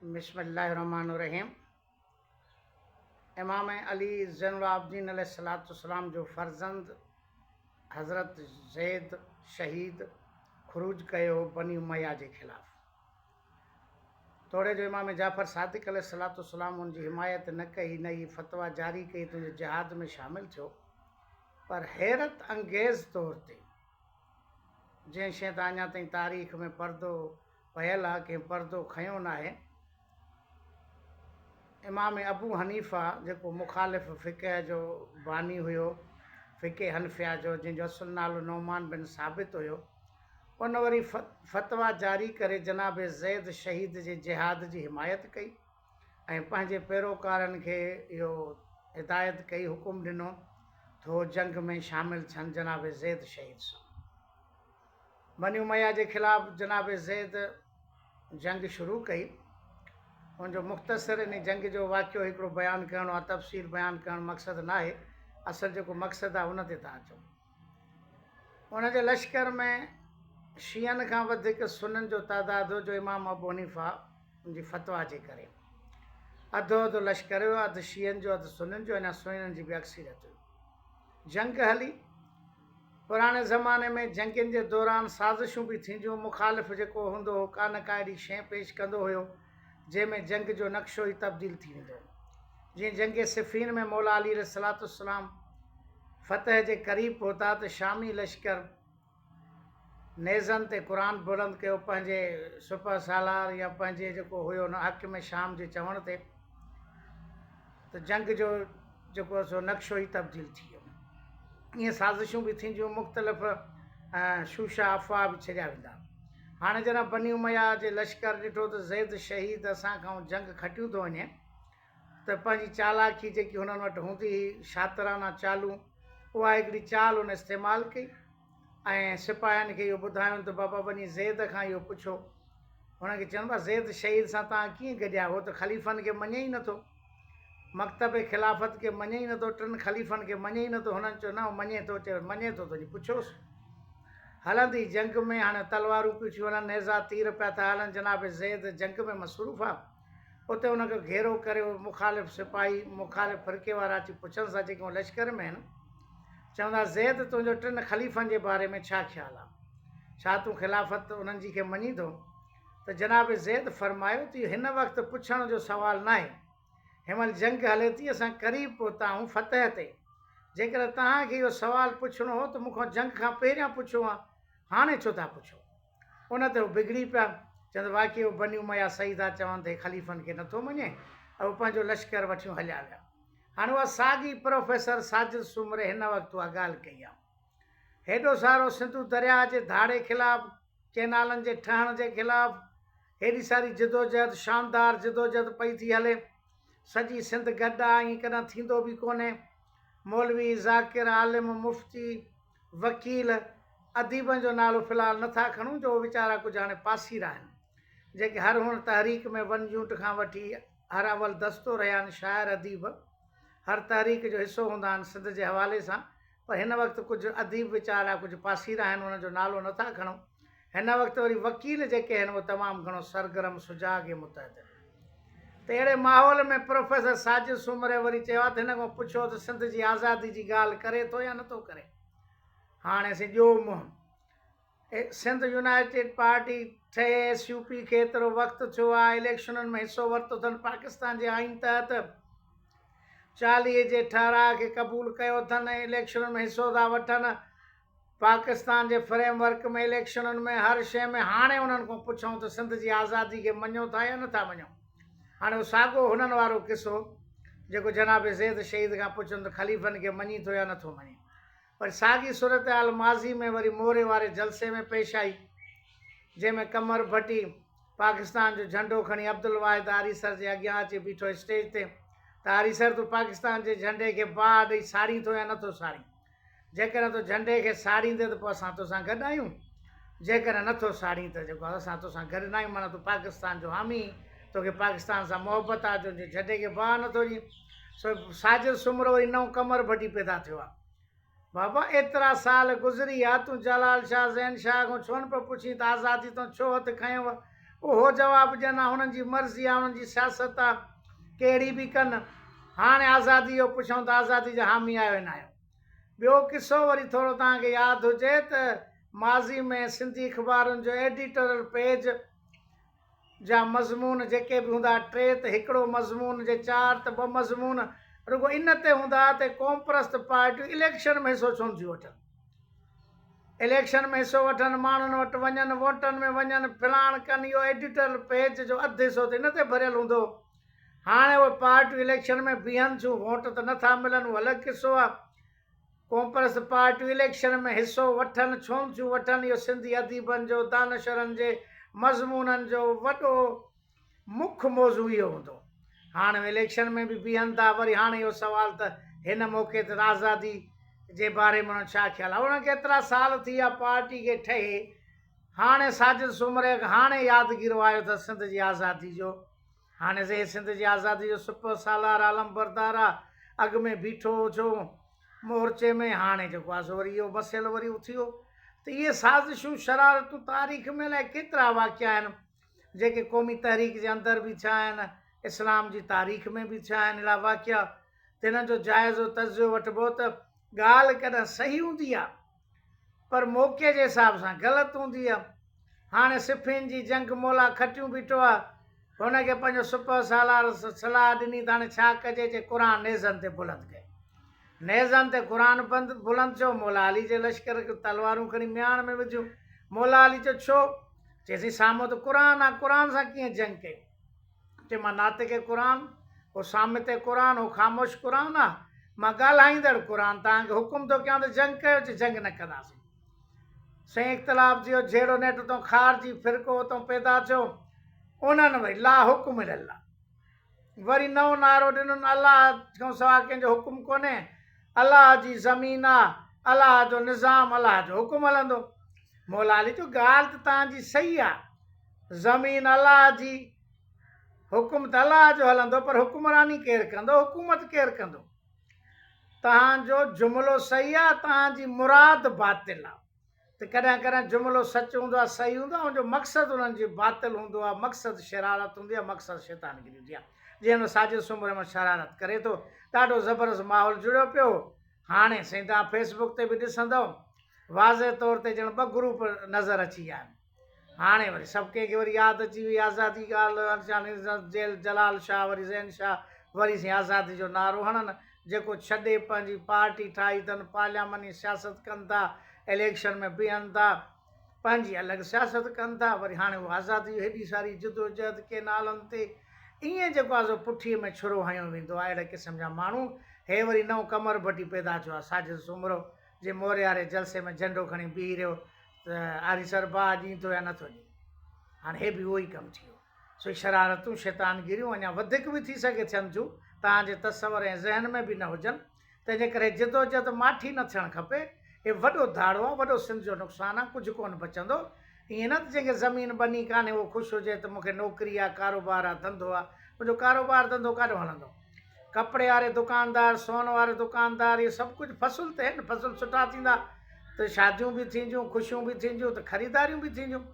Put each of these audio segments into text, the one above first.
بسم الله الرحمن الرحيم امام علي زين العابدين عليه الصلوۃ والسلام جو فرزند حضرت زيد شهيد خروج ڪيو بني اميه جي خلاف توڙي جو امام جعفر صادق عليه الصلوۃ والسلام ان جي حمايت نه ڪئي نه ئي فتوا جاري ڪئي ته جهاد ۾ شامل ٿيو پر حيرت انگيز طور تي جنهن شيء تان اڃا تائين تاريخ ۾ پردو پيل آ ڪنهن پردو کنيو ناهي. امام ابو حنيفه جيڪو مخالف فقه جو باني هيو فقه حنفيه جو جنهن جو اصل نالو نعمان بن ثابت هيو ان وري فتويٰ جاري ڪري جناب زيد شهيد جي جهاد جي حمايت ڪئي ۽ پنهنجي پيروڪارن کي اهو هدايت ڪئي حڪم ڏنو ٿو جنگ ۾ شامل ٿين جناب زيد شهيد سان بني اميه جي خلاف جناب زيد جنگ شروع ڪئي. ان جو مختصر انهي جنگ جو واقعو هڪڙو بيان ڪرڻ اها تفصيل بيان ڪرڻ مقصد ناهي. اصل جيڪو مقصد آهي ان تي ٿا اچون. ان جي لشڪر ۾ شيعن کان وڌيڪ سنن جو تعداد هو جو امام ابو حنيفه جي فتويٰ جي ڪري اڌو اڌ لشڪر هيو اڌ شيعن جو اڌ سنن جو اڃا سنن جي به اڪثريت هئي. جنگ هلي. پراڻي زماني ۾ جنگين جي دوران سازشون به ٿينديون مخالف جيڪو هوندو هو ڪا نه ڪا اهڙي شيء پيش ڪندو هيو جنهن ۾ جنگ جو نقشو ئي تبديل ٿي ويندو هو جيئن جنگ صفين ۾ مولا علي عليه الصلوة والسلام فتح جي قريب پهتا ته شامي لشڪر نيزن تي قرآن بلند ڪيو پنهنجي سپهه سالار يا پنهنجي جيڪو هيو حاڪم شام جي چوڻ تي ته جنگ جو جيڪو سو نقشو ئي تبديل ٿي ويو. ائين سازشون به ٿينديون، مختلف شوشا افواهه به ڇيڙيا ويندا. هاڻي جڏهن بني اميه جي لشڪر ڏٺو ته زيد شهيد اسان کانئن جنگ کٽيون ٿو وڃي ته پنهنجي چالاڪي جيڪي هنن وٽ هوندي هئي، شاطرانه چالون، اها هڪڙي چال هن استعمال ڪئي. ۽ سپاهين کي اهو ٻڌايائون ته بابا وڃي زيد کان اهو پڇو. هن کي چيائون بابا زيد شهيد سان توهان ڪيئن گڏيا؟ هو ته خليفن کي مڃي ئي نه ٿو. مڪتب خلافت کي مڃي ئي نه ٿو. ٽن خليفن کي مڃي ئي نه ٿو. هنن چيو نه هو مڃي ٿو. چيائون مڃي ٿو ته وڃي پڇوس. هلندي جنگ ۾ هاڻي تلوارون پيون ٿيون هلن، نيزا تير پيا ٿا هلن، جناب زيد جنگ ۾ مصروف آ. اتي ان کي گهيرو ڪري اهي مخالف سپاهي، مخالف فرقي وارا اچي پڇنس ها جيڪي هن لشڪر ۾ آهن، چون ها زيد تنهنجو ٽن خليفن جي باري ۾ ڇا خيال آهي؟ ڇا تون خلافت انهن جي کي مڃين ٿو؟ ته جناب زيد فرمايو ته اهو هن وقت پڇڻ جو سوال ناهي، هن مهل جنگ هلي ٿي اسان قريب پهتا آهون فتح تي، جيڪڏهن توهان کي اهو سوال پڇڻو هو ته مون کان جنگ کان پهريان پڇو ها، هاڻي ڇو ٿا پڇو؟ ان تي هو بگڙي پيا، چوندي، واقعي اهو بني اميه سيده چوند هي خليفن کي نٿو مڃي ۽ هو پنهنجو لشڪر وٺيون هليا ويا. هاڻ اها ساڳي پروفيسر ساجد سومري هن وقت اها ڳالهه ڪئي آهي. هيڏو سارو سنڌو درياهه جي ڌاڙي خلاف، ڪئنالن جي ٺهڻ جي خلاف هيڏي ساري جدوجهد، شاندار جدوجهد پئي ٿي هلي. سڄي سنڌ گڏ آهي، ائين ڪڏهن ٿيندو به ڪونهي. مولوي، ذاڪر، عالم، مفتي، وڪيل، اديبن جو نالو في الحال نه ٿا کڻون جو اهي ويچارا ڪجهه هاڻي پاسيرا آهن، جيڪي هر هن تحريڪ ۾ ون يونٽ کان وٺي هر اول دستو رهيا آهن، شاعر اديب هر تحريڪ جو حصو هوندا آهن سنڌ جي حوالي سان، پر هن وقت ڪجهه اديب ويچارا ڪجهه پاسيرا آهن انهن جو نالو نه ٿا کڻون، هن وقت وري وڪيل جيڪي آهن اهي تمام گهڻو سرگرم، سجاڳ ۽ متحد آهن ته اهڙي ماحول ۾ پروفيسر ساجد سومري وري چيو ته هن کان پڇو ته سنڌ جي آزادي جي ڳالهه ڪري ٿو يا نٿو ڪري. هاڻي سين ڏيو منهن. سنڌ يونائيٽيڊ پارٽي ٺهي ايس يو پي کي ايترو وقت ٿيو آهي اليڪشنن ۾ حصو ورتو اٿن پاڪستان جي آئين تحت چاليهه جي ٺهراء کي قبول ڪيو اٿن ۽ اليڪشنن ۾ حصو ٿا وٺن پاڪستان جي فريم ورڪ ۾ اليڪشنن ۾ هر شيء ۾ هاڻي انهن کان پڇون ته سنڌ جي آزادي کي مڃو ٿا يا نٿا مڃو؟ هاڻي اهو ساڳو هنن وارو قصو جيڪو جناب زيد شهيد کان پڇن ته خليفن کي مڃين ٿو يا نٿو مڃين؟ وري ساڳي صورتحال ماضي ۾ وري موري واري جلسي ۾ پيش آئي جنهن ۾ قمر ڀٽي پاڪستان جو جهنڊو کڻي عبدالواحد آريسر جي اڳيان اچي بيٺو اسٽيج تي ته آريسر تون پاڪستان جي جهنڊي کي باهه ڏئي ساڙين ٿو يا نٿو ساڙين؟ جيڪڏهن تو جهنڊي کي ساڙيندين ته پوء اسان توسان گڏ آهيون، جيڪڏهن نه ٿو ساڙين ته جيڪو اسان توسان گڏ ناهيون معنيٰ تون پاڪستان جو حامي هين، توکي پاڪستان سان محبت آهي، تنهنجي جهنڊي کي باهه نه ٿو ڏين. سو ساجد سومرو وري نئون قمر ڀٽي پيدا ٿيو آهي. بابا ايترا سال گذري ويا، تون جلال شاهه، زين شاهه کان ڇونه پيو پڇين ته آزادي تان ڇو هٿ کنيوء؟ اهو جواب ڏين ها هنن جي مرضي ها هنن جي سياست ها ڪهڙي به ڪن هاڻي آزادي جو پڇون ته آزادي جا حامي آهيو نه آهيو ٻيو قصو وري ٿورو توهان کي ياد هجي ته ماضي ۾ سنڌي اخبارن جو ايڊيٽرل پيج جا مضمون جيڪي به هوندا ها ٽي ته هڪڙو مضمون جي چار ته ٻه مضمون رڳو ان تي هوندا ها ته قومپرست پارٽيون اليڪشن ۾ حصو ڇو نٿيون وٺن اليڪشن ۾ حصو وٺن، ماڻهن وٽ وڃن، ووٽن ۾ وڃن، ڦلاڻ ڪن اهو ايڊيٽرل پيج جو اڌ حصو ته ان تي ڀريل هوندو هو. هاڻي اهي پارٽيون اليڪشن ۾ بيهن ٿيون، ووٽ ته نه ٿا ملن اهو الڳ قصو آهي. ڪونپرس پارٽيون اليڪشن ۾ حصو وٺن ڇونه ٿيون وٺن اهو سنڌي اديبن جو، دانشورن جي مضمونن جو وڏو. مک موضوع اهو هوندو. هاڻ اليڪشن ۾ به بيهن ٿا وري هاڻ اهو سوال ته هن موقعي تي راهزادي جي باري ۾ انهن ڇا خيال آهي. انهن کي ايترا سال ٿي ويا پارٽي کي ٺهي هاڻي ساجد سومري کي هاڻي يادگيرو آيو اٿس سنڌ جي آزادي جو هاڻي زهي سنڌ جي آزادي جو سپهه سالار آ علمبردار آ اڳ ۾ بيٺو هو ڇو مورچي ۾ هاڻي جيڪو آ سو وري اهو مسئلو وري اٿيو ته اهي سازشون شرارتون تاريخ ۾ الائي ڪيترا واقعا آهن جيڪي قومي تحريڪ جي اندر به ٿيا آهن، اسلام جي تاريخ ۾ به ٿيا آهن اهڙا واقعا تنهن جو جائزو تجزيو وٺبو ته ڳالهه ڪڏهن صحيح هوندي آهي پر موقعي جي حساب سان غلط هوندي آهي هاڻي صفين جي جنگ مولا کٽيون بيٺو آهي هن کي پنهنجو سپهه سالار صلاح ڏني ته هاڻي ڇا ڪجي جي قرآن نيزن تي بلند ڪئي نيزن تي قرآن بند بلند ٿيو مولا علي جي لشڪر کي تلوارون کڻي مياڻ ۾ وڌيون مولا علي چيو ڇو چيسين سامو ته قرآن آ، قرآن سان ڪيئن جنگ ڪئين؟ چي مان ناطق قرآن، هو صامت قرآن، هو خاموش قرآن آ، مان ڳالهائيندڙ قرآن توهان کي حڪم ٿو ڪيان ته جنگ ڪيو، چي جنگ نه ڪنداسين. سائين اختلاف جي اهو جهيڙو نيٺ اتان خارجي فرقو اتان پيدا ٿيو، انهن وئي لا حڪم الا الله. وري نئون نعرو ڏنن الله کان سوا ڪنهن جو حڪم ڪونهي، الله جي زمين آ، الله جو نظام، الله جو حڪم هلندو. مولا علي چيو ڳالهه ته توهان جي صحيح آ، زمين الله جي، حڪم ته الله جو هلندو پر حڪمراني ڪير ڪندو، حڪومت ڪير ڪندو؟ توهان جو جملو صحيح آ، توهان جي مراد باطل آ. ته ڪڏهن ڪڏهن جملو سچ هوندو آهي صحيح هوندو آهي ان جو مقصد انهن جي باطل هوندو آهي مقصد شرارت هوندي آهي مقصد شيطانگري هوندي آهي جيئن هن ساجد سومري رحمان شرارت ڪري ٿو ڏاڍو زبردست ماحول جڙيو پيو هاڻي سائين تان فيسبوڪ تي به ڏسندو واضح طور تي ڄڻ ٻه گروپ نظر اچي ويا آهن هاڻي وري سڀ ڪنهن کي وري ياد اچي وئي آزادي ڳالهه ارجان جيل جلال شاهه وري زين شاهه وري سين آزادي جو نعرو هڻن جيڪو ڇڏي پنهنجي پارٽي ٺاهي تن پارليامني سياست ڪن ٿا اليڪشن ۾ بيهن ٿا پنهنجي الڳ سياست ڪن ٿا وري هاڻي هو آزادي جي هيڏي ساري جدوجهد ڪينالن تي ائين جيڪو آ سو پٺي ۾ ڇرو هنيو ويندو آ اهڙي قسم جا ماڻهو هي وري نئون قمر ڀٽي پيدا ٿيو آ ساجد سومرو جي مورياري جلسي ۾ جهنڊو کڻي بيهي رهيو ته آريسر با ڏيندو يا نٿو ڏي. هاڻ هي به اهو ئي ڪم ٿيو. سوئي شرارتون، شيطانگيريون اڃا وڌيڪ به ٿي سگهي ٿين ٿيون، توهان جي تصور ۽ ذهن ۾ به نه هجن. تنهنجي ڪري جدوجهد ماٺي نه ٿيڻ کپي. هي وڏو ڌاڙو آ، وڏو سنڌ جو نقصان آ، ڪجهه ڪونه بچندو. ائين نه ته جنهن کي زمين ٻني ڪانهي اهو خوش هجي ته مون کي نوڪري آ، ڪاروبار آ، ڌنڌو آ. منهنجو ڪاروبار ڌنڌو ڪاڏو هلندو؟ ڪپڙي واري دڪاندار سون واري دڪاندار اهي سڀ ڪجهه فصل تي آهن فصل سٺا ٿيندا ته شاديون به ٿينديون خوشيون به ٿينديون ته خريداريون به ٿينديون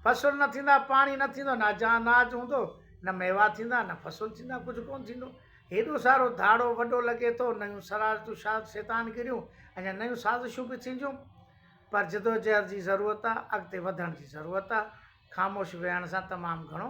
فصل نه ٿيندا پاڻي نه ٿيندو نه جا اناج هوندو نه ميوا ٿيندا نه فصل ٿيندا ڪجهه ڪونه ٿيندو هيڏو سارو ڌاڙو وڏو لڳي ٿو نيون شرارتون شاد شيطان گريون اڃا نيون سازشون به ٿينديون پر جدوجهد جي ضرورت آهي اڳتي وڌڻ جي ضرورت آهي خاموش ويهڻ سان تمام گهڻو